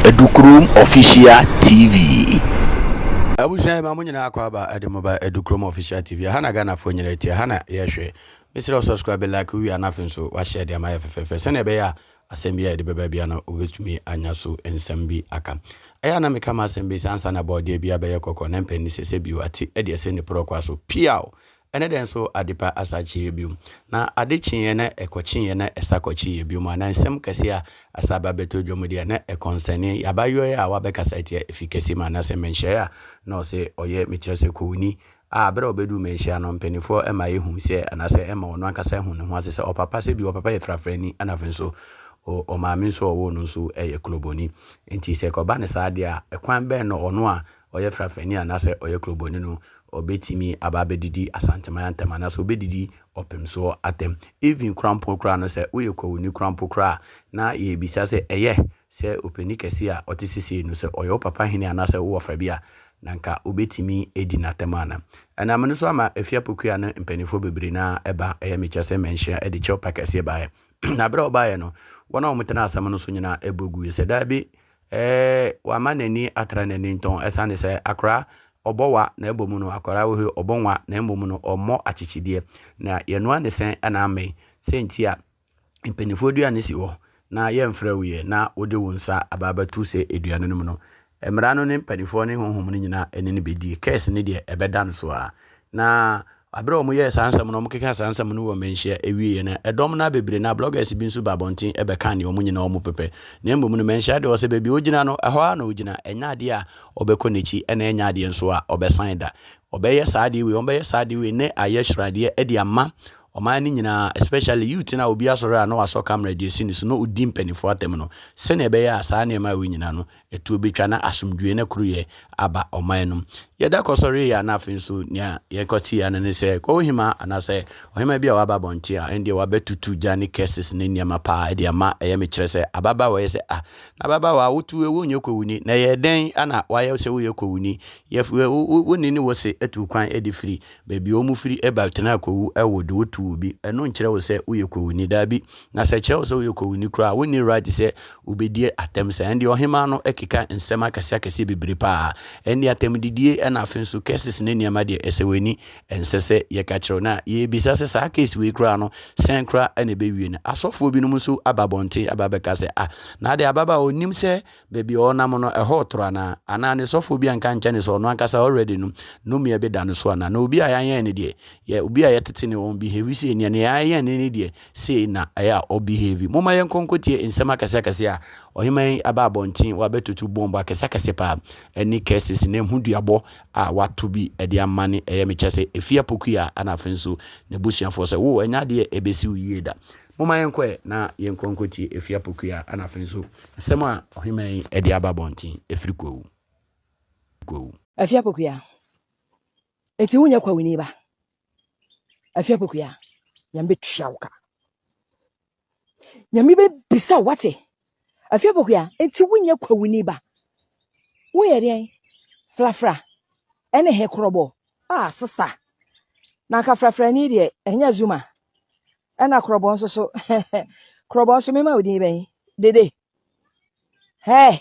Edukurom Official TV. Abusua yɛma mo nyinaa akɔ aba ɛde mo ba Edukurom Official TV. Ɛha na Ghanafoɔ nyinaa ti, ɛha na yɛhwɛ. Mesrɛ wo subscribe, like, wowie a na afei nso wahyɛ de ama yɛ fɛfɛɛfɛ sɛnea ɛbɛyɛ a asɛm bi a yɛde bɛba bia no wobɛtumi anya so nsɛm bi aka. Ɛyɛ a na meka ma asɛm bi sɛ ansa na bɔɔdeɛ bi abɛyɛ kɔkɔɔ na mpɛn ne sɛ sɛ bio ate ɛde ɛsɛ ne porɔkwa so piaw Ɛne dɛn nso adepa asa kyeeɛ bio? Na ade kyeeɛ na ɛkɔ kyeeɛ na ɛsa kɔ kyeeɛ bio mu anaa nsɛm kɛseɛ a asa aba bɛtɔ dwa mu deɛ na ɛkɔnsɛne yɛ abayɔɛ a wabɛkasa atia efi kɛseɛ mu anaasɛ mmɛnhyɛeɛ a na ɔsɛ ɔyɛ mekyerɛ sɛ kowuni a berɛ a ɔbɛduu mmɛnhyɛeɛ ano mpaninfoɔ ɛma yɛhu sɛ anaasɛ ɛma ɔno ankasa ahu ne ho ase sɛ ɔpapa sɛ bi ɔpapa yɛ frafrani ɛna afei nso o ɔmaame nso a ɔwoo no nso yɛ kloboni nti sɛ ɛkɔba no saa deɛ a ɛkwan bɛn na ɔno a ɔyɛ frafrani anaasɛ ɔyɛ kurobɔni no, ɔbɛtumi aba abɛdidi Asanteman atɛm anaasɛ ɔbɛdidi Ɔpemsoɔ atɛm. Even koraa mpo koraa no, sɛ woyɛ Kwawuni koraa mpo koraa a, na yɛrebisa sɛ, ɛyɛ sɛ ɔpanin kɛseɛ a ɔte sesei no, sɛ ɔyɛ wo papa hene anaasɛ wo wɔfa bi a, na anka wobɛtumi adi no atɛm anaa? Ɛnam no so ama Afie Apokua no mpanimfoɔ bebree no ara ɛba, ɛyɛ mekyerɛ sɛ mɛnhyia de kyɛwpa kɛseɛ baeɛ. Na berɛ a wɔbaeɛ no, wɔn a wɔtenaa asɛm no so nyinaa bɔ guiɛ sɛ, Dabi, Ɛɛ wama n'ani atra n'ani ntɔn ɛsiane sɛ akoraa ɔbɔ wa na mmom no akoraa wɔ he ɔbɔ nwa na mmom no ɔmmɔ akyekyedeɛ na yɛnoa ne sɛn na ammɛn sɛ nti a mpaninfoɔ dua no si hɔ na yɛmfrɛ wo yɛ na wode wo nsa aba abɛto sɛ dua no no mu no mmara no ne mpaninfoɔ ne honhom no nyinaa ɛne no bɛdie curse no deɛ ɛbɛda no so a na Bere a wɔyɛɛ saa nsɛm no, wɔkekaa saa nsɛm no wɔ mmanhyia awieeɛ no, ɛdɔm no ara bebree na bloggers bi nso baa abɔnten bɛkaa nea wɔn nyinaa wɔpepɛ. Na mmom no, mmanhyia deɛ ɔsɛ baabi a ɔgyina no, ɛhɔ ara na ɔgyina. Ɛnyɛ adeɛ a wɔbɛkɔ n'akyi na ɛnyɛ adeɛ nso a ɔbɛsan da. Wɔbɛyɛ saa adeɛ wei, wɔbɛyɛ saa adeɛ wei na ayɛ sradeɛ de ama ɔman no nyinaa, especially youth no a obi asɔre a na wasɔ camera de asi ne so na ɔdi mpanimfoɔ atɛm no, sɛdeɛ ɛbɛyɛ a saa nneɛma wei nyinaa no Ɛtoɔ bɛtwa na asomdwoeɛ ne koroyɛ aba ɔman no mu. Yɛda kɔsɔreeɛ a na afei nso nea yɛkɔteeɛ no ne sɛ Kɔɔhemaa anaasɛ ɔhemaa bi a waba abɔnten a ɛndeɛ wabɛtutu gya ne curses ne nneɛma paa ɛde ama ɛyɛ me kyerɛ sɛ ababaawa yɛ sɛ ah na ababaawa a wotu ewu nyɛ kɔwuni na ɛyɛ dɛn ana wayɛ sɛ woyɛ kɔwuni yɛ wo ne ne wo se atu kwan ɛde firi baabi a wɔn firi ɛba tena kɔwu ɛwo de wotu wo bi ɛno nkyerɛ wo sɛ woyɛ kɔwuni daabi Na sɛ ɛkyerɛ wo sɛ woyɛ kowuni koraa a, wonni right sɛ wobɛdi atɛm saa. Ɛndeɛ ɔhemaa no keka nsɛm akɛseakɛseɛ bebree paa. Ɛndeɛ atɛmdidie ɛna afei nso curses ne nneɛma deɛ ɛsɛ w'ani ɛnsɛ sɛ yɛka kyerɛ wo. Na yɛrebisa sɛ saa case wei koraa no sɛn koraa na ɛbɛwie no. Asɔfoɔ binom nso aba abɔnten aba abɛka sɛ ah na adeɛ ababaawa ɔnnim sɛ Baabi a ɔnam no, ɛhɔ ɔtoro anaa? Anaa ne sɔfoɔ bi anka ankyɛ ne sɛ ɔno ankasa already no, nnome a ɛbɛda no so anaa? Na obi a yɛanyɛn ne deɛ, yɛ, obi a yɛtete ne wɔn behave sei, nea nea yɛanyɛn ne ne deɛ, sei na ɛyɛ a ɔbehave. Momma yɛnkɔ nkɔtie nsɛm akɛseakɛse a ɔheman yi aba abɔnten, wabɛtutu bɔmbo akɛseakɛse paa, ɛne curses ne ho duabɔ a wato bi de ama ne, ɛyɛ mekyɛ sɛ, ɛfie apokua a, ɛna afei nso n'abusuafoɔ sɛ, wo, ɛnyɛ adeɛ ɛbɛsi wo yie da. Momma yɛnkɔ ɛ na yɛnkɔ nkɔtie ɛfiri Apokua ɛna afei nso asɛm a ɔheman yi ɛde aba abɔnten ɛfiri Kwawu. Kwawu. Afiri Apokua, Enti wonyɛ Kwawuni ba? Afiri Apokua, Nyame bɛtua wo ka. Nyame bɛbisa wate? Afiri Apokua, Enti wonyɛ Kwawuni ba? Woyɛ deɛn? Frafra ɛne he korɔbɔ? Ah, sista, na anka frafrani deɛ ɛnyɛ Zuma. Ɛna korɔbɔ nso so. korɔbɔ nso mema wo din bɛn? Dede. Hɛ.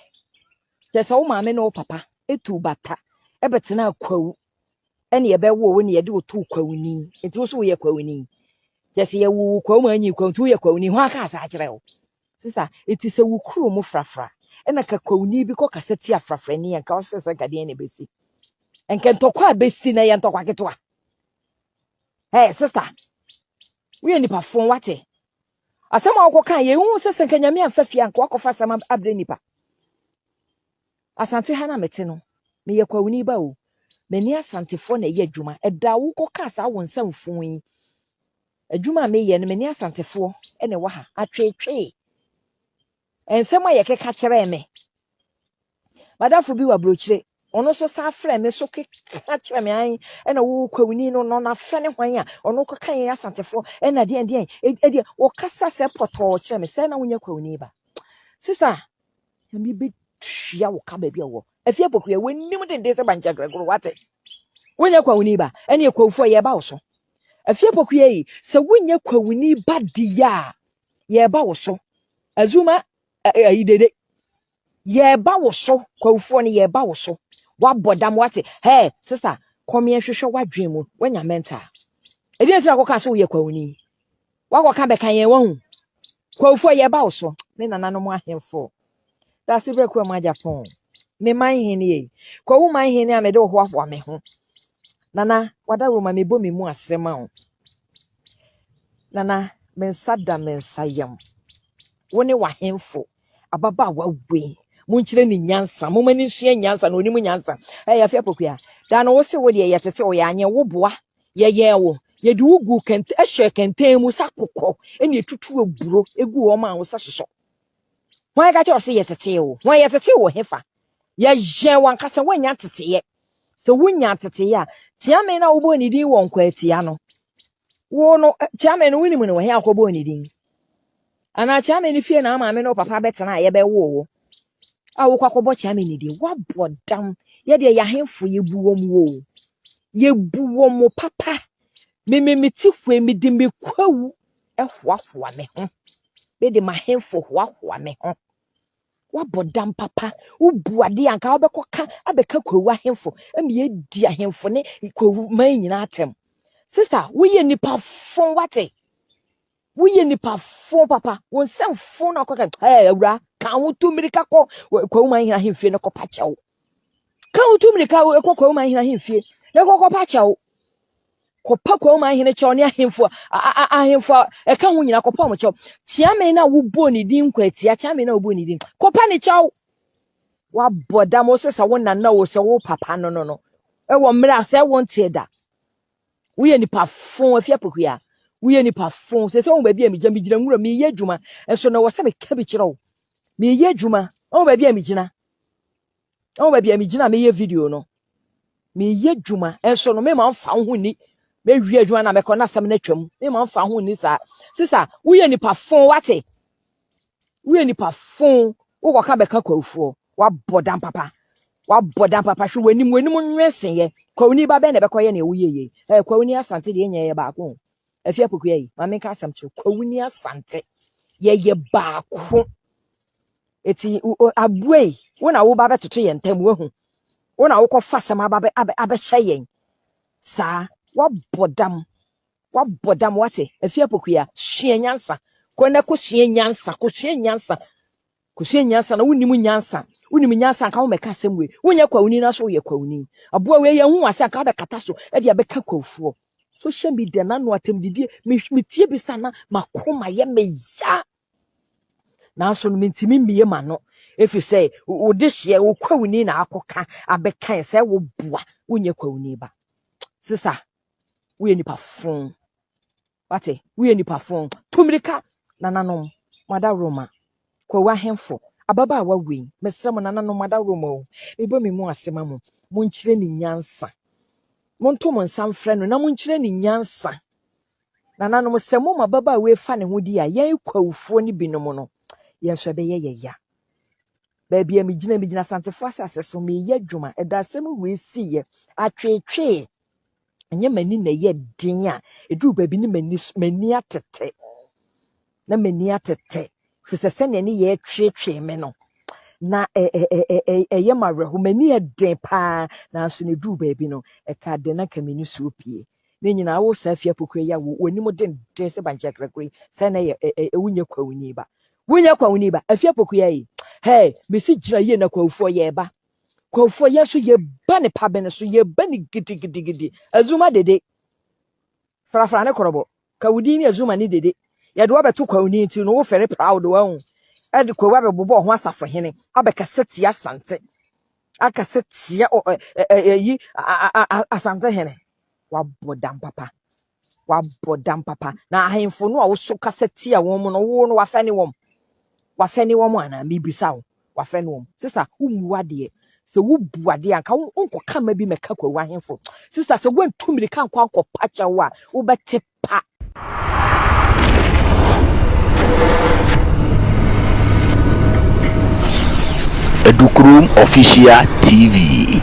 Kyɛ sɛ wo maame ne wo papa etu bata ɛbɛtena kwawu ɛne ɛbɛwo wo ne yɛde wo to kwawuni. Nti wo so woyɛ kwawuni. Kyɛ sɛ yɛwo wo kwawu ma anyi kwawu nti woyɛ kwawuni. Ho aka asa akyerɛ wo. Sisa, eti sɛ wo kuro mu frafra ɛna ka kwawuni bi kɔ kasa tia frafrani yɛn ka ɔsɛ sɛ nka deɛn na ɛbɛsi? Nka ntɔkwa a bɛsi na yɛ ntɔkwa ketewa. Hey, sister. We are nipa fon wate. Asɛm a wokɔ kan yɛ hu sɛ sɛ nka nyame amfa fie anka wakɔfa asɛm abrɛ nipa. Asante ha na mete no. Meyɛ kwawuni ba o. M'ani asantefoɔ na ɛyɛ adwuma. Ɛda wokɔ ka saa wo nsa mfon yi. Adwuma a meyɛ no m'ani asantefoɔ na ɛwɔ ha. Atweetwee. Nsɛm a yɛkeka kyerɛɛ me. M'adamfo bi wɔ aburokyire, ɔno nso san frɛ me so keka kyerɛ me an ɛna wo kwawuni no no n'afrɛ ne hwan a ɔno kɔka yɛn asantefoɔ ɛna deɛn deɛn ɛdeɛ wɔkasa sɛ pɔtɔɔ kyerɛ me sɛ na wonyɛ kwawuni ba sista ɛmi bɛtua wo ka baabi a wɔ afie pɔkuya wɔnim denden sɛ bankyɛ grɛgoro wate wonyɛ kwawuni ba ɛne ɛkwawufoɔ yɛba wo so afie pɔkuya yi sɛ wonyɛ kwawuni ba deɛ a yɛba wo so azuma ayidede Yɛreba wo so, Kwawufoɔ no, yɛreba wo so. Wabɔ dam, wate. Hey, sista, kɔmeɛ hwehwɛ w'adwene mu, wanya mental. Ɛdi nti na kɔka sɛ woyɛ kwawuni. Wakɔka bɛka yɛn wahu. Kwawufoɔ, yɛreba wo so. Me nananom ahemfo. Dase berɛ kuwa mu agyapɔn. Me man hene ei. Kwawu man hene a mede wo hoahoa me ho. Nana, wada roma mebɔ me mu ase ma wo. Nana, me nsa da me nsa yam. Wo ne w'ahemfo. ababaawa wei monkyerɛ ne nyansa moma no nsua nyansa na ɔnim nyansa ɛyɛ afei apɔkua daa no wo se wo deɛ yɛtete wo yɛanyɛ wo boa yɛyɛɛ wo yɛde wo gu kɛntɛ ɛhyɛ kɛntɛn mu sɛ akokɔ ɛne ɛtutu aburo ɛgu hɔ ma wo sɛ sosɔ wɔn ɛka kyɛ ɔse yɛtete wo wɔn yɛtete wo hefa yɛyɛn wankasa woanya teteɛ Sɛ wunya ntetee a, Kyeame no a wobɔɔ ne din wɔ Nkwaatia no, wo no, Kyeame no wonim no wɔ he a kɔbɔɔ ne din? Anaa Kyeame no fie na wo maame ne wo papa bɛtena a yɛbɛwoo wo a wokɔ akɔbɔ Kyeame ne din? Woabɔ dam. Yɛdeɛ yɛahemfo yɛbu wɔn wo o. Yɛbu wɔn mo papa. Meme mete hɔ yi mede me kwawu hoahoa me ho. Mede m'ahemfo hoahoa me ho. Woabɔ dam papa, wobu ade a anka wobɛkɔka abɛka kwawu ahemfo ma yɛadi ahemfo ne kwawu man nyinaa atɛm. Sista, woyɛ nipa fo wate. Woyɛ nipa fo papa. Wo nsɛm fo na akɔka. Ɛɛ awura, ka ho tu mmirika kɔ kwawu man hena ahemfie no kɔpa kyɛw. Ka wo tu mmirika kɔ Kwawuma ahene ahemfie na kɔkɔpa kyɛw. Kɔpa Kwawuma ahene kyɛw ne ahemfo ahemfo ɛka ho nyinaa kɔpa wɔn kyɛw. Kyeame na wobɔ ne din nkwatia kyeame na wobɔ ne din. Kɔpa ne kyɛw. Wabɔ dam wo so sɛ wo nana wo sɛ wo papa no no no. Ɛwɔ mmerɛ a sɛ wo nteɛ da. Woyɛ nipa fon afia pokuya. Woyɛ nipa fon. Sɛ sɛ wo baabi a megyina megyina nwura meyɛ adwuma. Ɛso na wɔ sɛ meka bi kyerɛ wo. Meyɛ adwuma. Wo baabi a megyina. ɛwɔ baabi a megyina meyɛ video no meyɛ adwuma nso no mema mfa ho ni mewie adwuma na mɛkɔ na asɛm no atwam mema mfa ho ni saa sisa woyɛ nipa fon wate woyɛ nipa fon wokɔka bɛka kwawofoɔ wabɔ dan papa wabɔ dan papa hwɛ w'anim w'anim nwɛsenyɛ kwawuni ba bɛn na ɛbɛkɔyɛ nea woyɛ yei ɛɛ kwawuni asante deɛ nyɛ yɛ baako afia pokua yi ma menka asɛm kyerɛ kwawuni asante yɛyɛ baako Eti abue yi, wo na woba bɛtoto yɛn ntam, woahu? Wo na wokɔfa asɛm aba bɛ, abɛ, abɛhyɛ yɛn saa. Woabɔ dam. Woabɔ dam, wate? Afie Apokuya, sua nyansa. Kɔ na kɔsua nyansa, kɔsua nyansa. Kɔsua nyansa na wonim nyansa. Wonim nyansa anka wommɛka asɛm wei. Wonyɛ kwawuni na so woyɛ kwawuni. Aboa wei yɛnhu wo ase anka wobɛkata so de abɛka kwawofoɔ. Social media na ano atɛmdidie, me, metie bi saa na m'akoma yɛ me ya. nanso no mentumi mmie m'ano ɛfiri sɛ wode hyeɛ wo kwawuni na akɔka abɛkae sɛ woboa wonyɛ kwawuni ba sisa woyɛ nipa fo wate woyɛ nipa fo tumirika nananom madaworo ma kwawu ahemfo ababaawa wei mesrɛ mo nananom madaworo ma o mebɔ me mu ase ma mo monkyerɛ ne nyansa monto mo nsa mfrɛ no na monkyerɛ ne nyansa Nananom, sɛ mo mmababaawa yi fa ne ho di a, yɛn Kwawufoɔ no binom no, yɛn nso ɛbɛyɛ yɛn ya. Baabi a megyina, megyina Asantefoɔ asase so, mereyɛ adwuma. Ɛda asɛm wei siiɛ, atweetwee, ɛnyɛ m'ani na ɛyɛ den a, ɛduru baabi ne m'ani s- m'ani atete. na m'ani atete, ɛfiri sɛ sɛdeɛ ne yɛɛ tweetwee me no, na ɛ- ɛ- ɛ- ɛ- ɛ- ɛyɛ me awerɛho, m'ani yɛ den paa, nanso na ɛduu baabi no, ɛkaa dɛn na anka me nisuo pue. Ne nyinaa wo saa fie apokura yi a wo- w'anim denden sɛ bankye akrakura yi, sɛ na ɛyɛ ɛ- ɛ- ɛ- wonyɛ kwawuni ba. Wonyɛ kwawuni ba, afie apokua yi. Hɛɛ, mesi gyina yie na kwawufoɔ yɛreba. Kwawufoɔ yɛn nso yɛba ne pabene so, yɛba ne gidigidigidi. Azuma dede, frafra ne korɔbɔ. Ka wo din ne Azuma ne Dede. Yɛde wo abɛto kwawu no nti no wo fɛre proud wahu. Ɛde kwawu abɛbobɔ ho asafo hene. Abɛkasa tia asante. Akasa tia ɛyi asante hene. Wabɔ dam papa. Wabɔ dam papa. Na ahemfo no a wo so kasa tia wɔn mu no wo no wafɛne wɔn. Wafɛne wɔn anaa mebisa wo. wafɛ noɔ mu. Sista wo mmu adeɛ sɛ wo bu adeɛ a nka wo nkɔ ka mma bi mɛka kwawu ahenfo sista sɛ woantu mirika nkɔ ankɔ pa kyɛw a wo bɛ te pa. Adukrom Official TV.